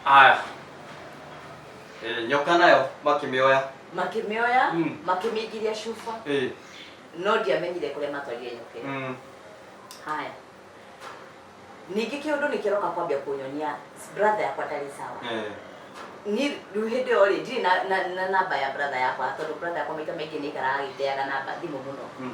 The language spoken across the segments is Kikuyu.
aya Eh, nyoka nayo makĩmĩoya makĩmĩoya Mm. makĩmĩingiria cuba Eh, no ndiamenyire kũrĩa matwarire nyoka ĩyo mm, haya ningĩ kĩũndũ nĩ kĩroka kwambia kũnyonia brother yakwa ndarĩ sawa eh, ni rĩu hĩndĩ ĩyo rĩ ndirĩ na- na na namba ya brother yakwa tondũ brother yakwa maita maingĩ nĩ aikaraga agĩteaga namba thimũ mũno mm,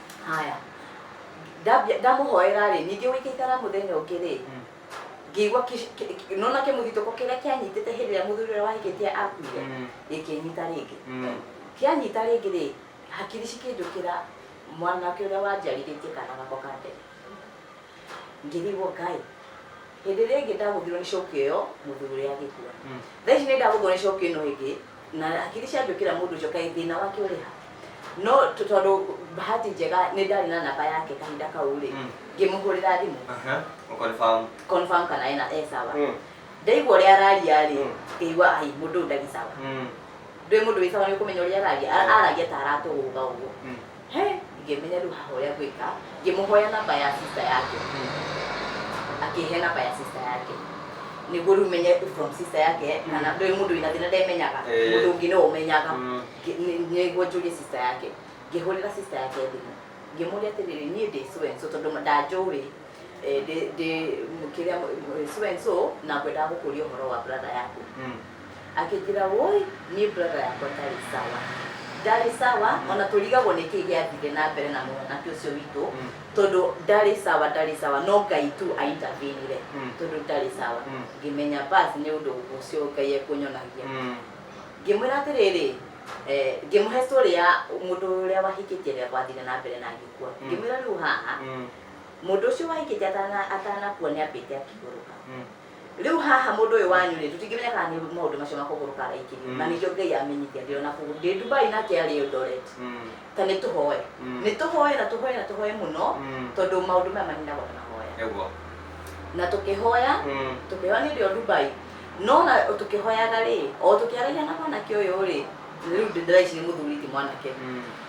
haya Ndambia- ndamuhoera ri ningi gwikaikara muthenya ungi ri Mm. ngĩigua kĩ- kĩ- kĩ- nona kĩmũthitũko kĩrĩa kĩanyitĩte hĩndĩ ĩrĩa mũthuri ũrĩa wahikĩtie akuire Mm. gĩkĩnyita rĩngĩ Mm. kĩanyita rĩngĩ rĩ hakiri cikĩnjũkĩra mwanake ũrĩa wanjarirĩtie kana gako ka mbere ngĩrigwo ngai hĩndĩ ĩrĩa ĩngĩ ndagũthirwo nĩ coki ĩyo mũthuri ũrĩa agĩkua Mm. thaa ici nĩ ndagũthwo nĩ coki ĩno ĩngĩ na hakiri ciangĩũkĩra mũndũ ũcio kaĩ thĩna wake ũrĩ ha no tũ- tondũ bahati njega nĩ ndarĩ na namba yake kahinda kau rĩ Mm. ngĩmũhũrĩra thimũ Aha, mũkonfamu. confirm kana ena e sawa Mm. ndaigua ũrĩa araria rĩ Mm. ngĩigua ai mũndũ ũyũ ndarĩ sawa Mm, ndwĩ mũndũ wĩ sawa nĩ ũkũmenya ũrĩa araria Ara- Yeah. araria ta aratũgũga ũguo mm, He ingĩmenya rĩu hahoya gwĩka ngĩmũhoya namba ya sister yake akĩhe namba ya sister yake nĩguo rĩu menye from sister yake kana ndĩ mũndũ wĩna thĩna ndemenyaga Eh. mũndũ ũngĩ nĩwe ũmenyaga Mm. Ngĩ- nĩ- nĩguo njũrie sister yake ngĩhũrĩra sister yake thimũ ngĩmũria atĩrĩrĩ niĩ ndĩ so and so tondũ ndanjũĩ eh, ndĩ ndĩ kĩrĩa so and so na ngwendaga gũkũria ũhoro wa brother yaku Mm. akĩnjĩra woi niĩ brother yakwa ndarĩ sawa ndarĩ sawa ona tũrigagwo nĩ kĩĩ gĩathire na mbere na mwanake ũcio witũ Mm. tondũ ndarĩ sawa ndarĩ sawa no ngai tu aintavinire Mm. tondũ ndarĩ sawa Mm. ngĩmenya basi nĩ ũndũ ũcio ngai ekũnyonagia Mm. ngĩmwĩra atĩrĩrĩ eh, ngĩmũhe story ya mũndũ ũrĩa wahikĩtie rĩa gwathire na mbere na ngĩkua Mm. ngĩmwĩra rĩu haha Mm. Mũndũ ũcio wa Ikeja atana- atanakua nĩambĩte akĩgũrũka. Mm. Rĩu haha mũndũ ũyũ wanyu-rĩ, tũtingĩmenya kana nĩ maũndũ macio ma kũgũrũka araikĩrio, Mm. na nĩkĩo Ngai amenyithia ndĩrona kũgũ- ndĩ Dubai nake arĩ Eldoret. Mm. Ta nĩtũhoe. Mm. Nĩtũhoe na tũhoe na tũhoe mũno, Mm. tondũ maũndũ maya maninagwo na mahoya. Nĩguo. Na tũkĩhoya, Mm. tũkĩhoya nĩ ũndũ wa Dubai no na tũkĩhoyaga rĩ o tũkĩaragia na mwanake ũyũ rĩ rĩu ndĩraici nĩ mũthuri ti mwanake Mm.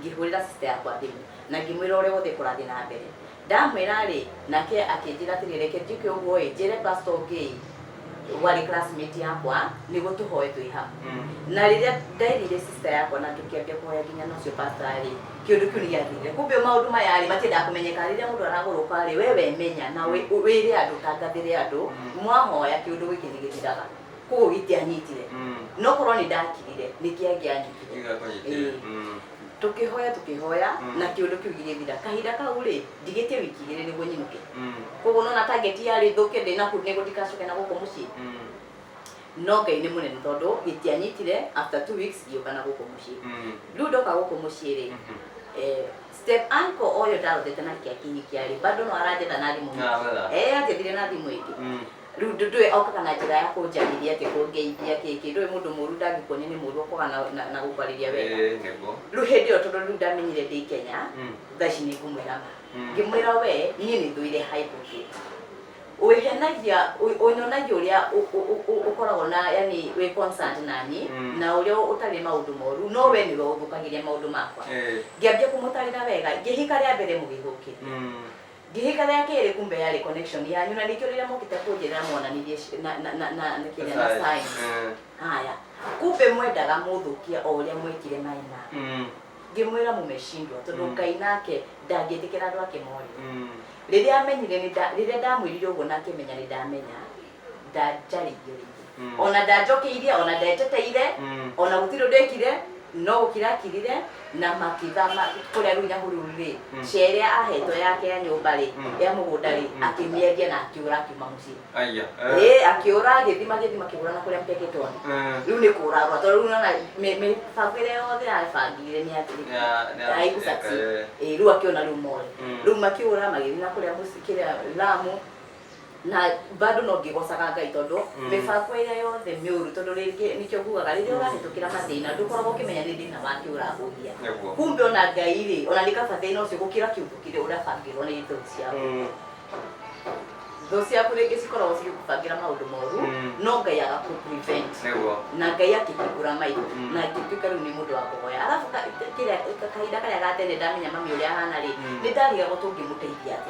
Ngĩhũrĩra sista yakwa thimũ na ngĩmwĩra ũrĩa wothe kũrathiĩ na mbere. Ndamwĩra-rĩ, nake akĩnjĩra atĩrĩrĩ, reke njũke ũguo-ĩ, njĩre pastor ũngĩ-ĩ, warĩ classmate yakwa, nĩgũtũhoe twĩ hamwe. Na rĩrĩa nderire sista yakwa na tũkĩambia kũhoya nginya na ũcio pastor-rĩ, kĩũndũ kĩu nĩgĩathirire. Kumbe maũndũ maya-rĩ, matiendaga kũmenyeka. Rĩrĩa mũndũ aragũrũka-rĩ, we wemenya na wĩre andũ, ũtangathĩre andũ, mwahoya kĩũndũ gĩkĩ nĩgĩthiraga. koguo gĩtianyitire Mm. no korwo nĩ ndakirire nĩ kĩangĩanyitire Nĩgĩakũnyitire. Ĩĩ. Mm. tũkĩhoya tũkĩhoya Mm. na kĩũndũ kĩu gĩgĩthira kahinda kau rĩ ndigĩtie wiki igĩrĩ nĩguo nyinũke Mm. koguo nona target yarĩ thũke ndĩna kũ- nĩguo ndikacoke na gũkũ mũciĩ Mm. no ngai nĩ mũnene tondũ gĩtianyitire after two weeks ngĩũka na gũkũ mũciĩ Mm. rĩu ndoka gũkũ mũciĩ rĩ Mhm. eh, step uncle ũyũ ndarothete na kĩa kihikiarĩ bado no aranjetha na thimũ Na, wega. eh anjethire na thimũ ĩngĩ Mm. Rĩu ndũ- ndũĩ aukaga na njĩra ya kũnjarĩria atĩ kũngeithia kĩ kĩ. Ndũĩ mũndũ mũũru ndangĩkuonia nĩ mũũru okaga na- na- na gũkwarĩria wega. Ĩĩ nĩguo. Rĩu hĩndĩ ĩyo tondũ rĩu ndamenyire ndĩ Kenya, Mm. thaa ici nĩngũmwĩra ma. Mm. Ngĩmwĩra wee, niĩ nĩthũire hypocrite. Wĩhenagia, ũ- ũnyonagia ũrĩa ũ- ũ- ũ- ũ- ũkoragwo na yani wĩ concerned naniĩ, Mm. na ũrĩa ũtarĩ maũndũ moru, no wee nĩwe ũthũkagĩria maũndũ makwa. Ĩĩ. Ngĩambia kũmũtarĩra wega, ngĩhika rĩa mbere mũgĩthũkĩria. Mm. Ngĩhĩka rĩa kerĩ kumbe yarĩ connection yanyu na nĩkĩo rĩrĩa mokĩte kũnjĩrĩra mwananirie ci- na na na na na kĩrĩa na sign. Eh, Haya. Kumbe mwendaga mũthũkie o ũrĩa mwekire na ina. mm, Ngĩmwĩra mũmecindwa tondũ Mm. Ngai nake ndangĩtĩkĩra andũ ake morĩre. mm, rĩrĩa amenyire nĩ nda- rĩrĩa ndamwĩrire ũguo na akĩmenya nĩ ndamenya ndanjaririo rĩngĩ Mm. ona ndanjokeirie ona ndeteteire Mm. ona gũtirĩ ũndũ ekire no gũkira akirire na makĩthama kũrĩa rũi na hururu rĩ Mm. cia ĩrĩa ahetwo yake ya nyũmba rĩ Mm. ya mũgũnda rĩ Mm. akĩmĩendia na akĩũra akiuma mũciĩ Aya. Eh. ĩ akĩũra agĩthima agĩthima akĩgũra na kũrĩa mteketwo Eh. rĩu nĩ kũragwa tondũ rĩu nona mĩbango ĩrĩa yothe yabangire nĩ Ya- nĩ ya- athirĩkaigucati eh. rĩu akĩona rĩu more Mm. rĩu makĩũra magĩthiĩ na kũrĩa mũci- kĩrĩa lamu na bado no ngĩgocaga ngai tondũ Mm. mĩbango ĩrĩa yothe mĩũru tondũ rĩngĩ nĩkĩo ngugaga rĩrĩa ũrahĩtũkĩra mathĩna ndũkoragwo ũkĩmenya nĩ thĩna wake ũragũgia Nĩguo. kumbe ona ngai rĩ ona nĩ kaba thĩna ũcio gũkĩra kĩũndũ kĩrĩa ũrabangĩrwo nĩ thũ ciaku Mm. thũ ciaku rĩngĩ cikoragwo cigĩkũbangĩra maũndũ moru Mm. no ngai agakũprevent Nĩguo. na ngai akĩhingũra maitho Mm. na ngĩtuĩka rĩu nĩ mũndũ wa kũhoya arabu ka- kĩrĩa- kahinda karĩa gatene ndamenya mami ũrĩa ahana rĩ Mm. nĩ ndarigagwo tũngĩmũteithia atĩa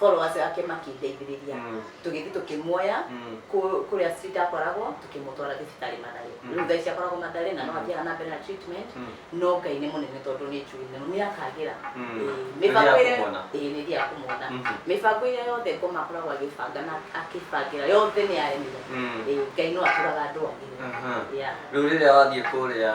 followers ake makĩndeithĩrĩria Mm. tũgĩthiĩ tũkĩmuoya Mm. kũ- kũrĩa street akoragwo tũkĩmũtwara thibitarĩ mathare Mm. rĩu thaa ici akoragwo mathare na no Mm. athiaga na mbere na treatment Mm. no ngai nĩ mũnene tondũ nĩ njũĩ nĩ nĩ akagĩra Mm. Ĩĩ, Nĩ mĩbango ĩrĩa akũmuona. ĩĩ, nĩ ĩrĩa akũmuona Mhm. mĩbango ĩrĩa yothe ngoma akoragwo agĩbanga na akĩbangĩra yothe nĩ yaremire Mm. Ĩĩ, ngai no atũraga andũ agĩre Aha. Yeah. rĩu rĩrĩa wathiĩ kũrĩa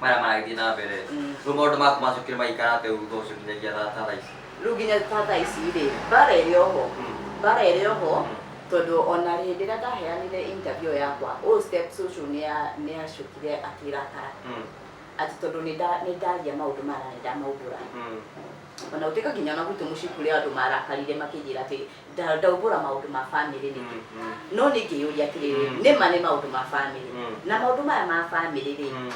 maya maragithiĩ na mbere Mm. rĩu maũndũ maku macokire magĩikara atĩ ũguo thutha ũcio nginyagia thaa thaa ici rĩu nginya tata ici rĩ mbara ĩrĩ oho Mm. mbara ĩrĩ oho Mm. tondũ ona hĩndĩ ĩrĩa ndaheanire interview yakwa ũũ step social nĩa- nĩacokire akĩrakara Mm. atĩ tondũ nĩnda- nĩndaria maũndũ maya na nĩndamaumbũra Mm. ona gũtuĩka nginya ona gwitũ mũciĩ kũrĩ andũ marakarire makĩnjĩra atĩ nda- ndaumbũra maũndũ ma bamĩrĩ rĩngĩ Mm, no nĩ ngĩyũria atĩrĩrĩ Mm. nĩ ma nĩ maũndũ ma bamĩrĩ Mm. na maũndũ maya ma bamĩrĩ rĩ mm,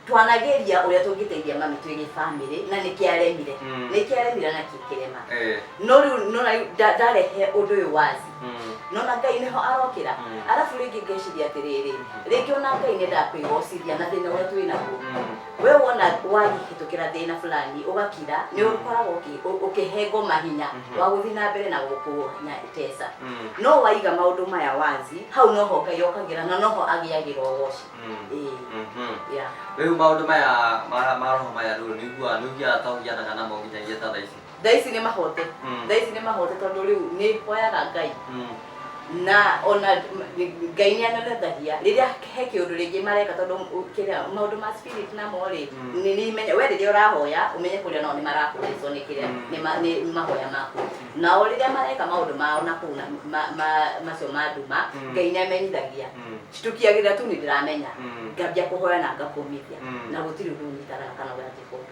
twanageria ũrĩa tũngĩteithia mami twĩ gĩ bamĩrĩ na nĩkĩ aremire Mm. nĩkĩ aremire na kĩ kĩrema eh, no rĩu no rĩu nda- ndarehe ũndũ ũyũ wazi mm, nona ngai nĩho arokĩra Mm. arabu rĩngĩ ngeciria atĩrĩrĩ rĩngĩ ona ngai nĩ ndakwĩgocithia na thĩna ũrĩa twĩ naguo mm. We wona wahĩtũkĩra thĩna fulani ũgakira nĩ ũkoragwo ũkĩ- ũ- ũkĩhe ngoma hinya Mhm. wa gũthiĩ na mbere na gũkũnyatesa Mm. no waiga maũndũ maya wazi hau noho ngai okagĩra na noho agĩagĩra ũgoci Mm. Ĩĩ, Mhm. yeah. rĩu maũndũ maya ma ma roho maya rĩu nĩiguaga nĩũgiaga ta ũgianaga namo nginyagia ta thaa ici thaa ici nĩ mahote Mm. thaa ici nĩ mahote tondũ rĩu nĩ hoyaga ngai Mm. na ona m- ngai nĩ anenethagia rĩrĩa he kĩũndũ rĩngĩ mareka tondũ ũ- kĩrĩa maũndũ ma spirit namo rĩ Mm. nĩ nĩ imenya we rĩrĩa ũrahoya ũmenye kũrĩa nao nĩ marakũrĩcwo nĩ kĩrĩa Mm. nĩ ma- nĩ nĩ mahoya maku nao rĩrĩa mareka maũndũ mao na kũu na ma- ma- macio ma nduma Mm. ngai nĩ amenyithagia Mm. citukiagĩra tu nĩ ndĩramenya Mm. ngambia kũhoya na ngakumithia Mm. na gũtirĩ ũndũ ũnyitaga kana ũranjĩka ũndũ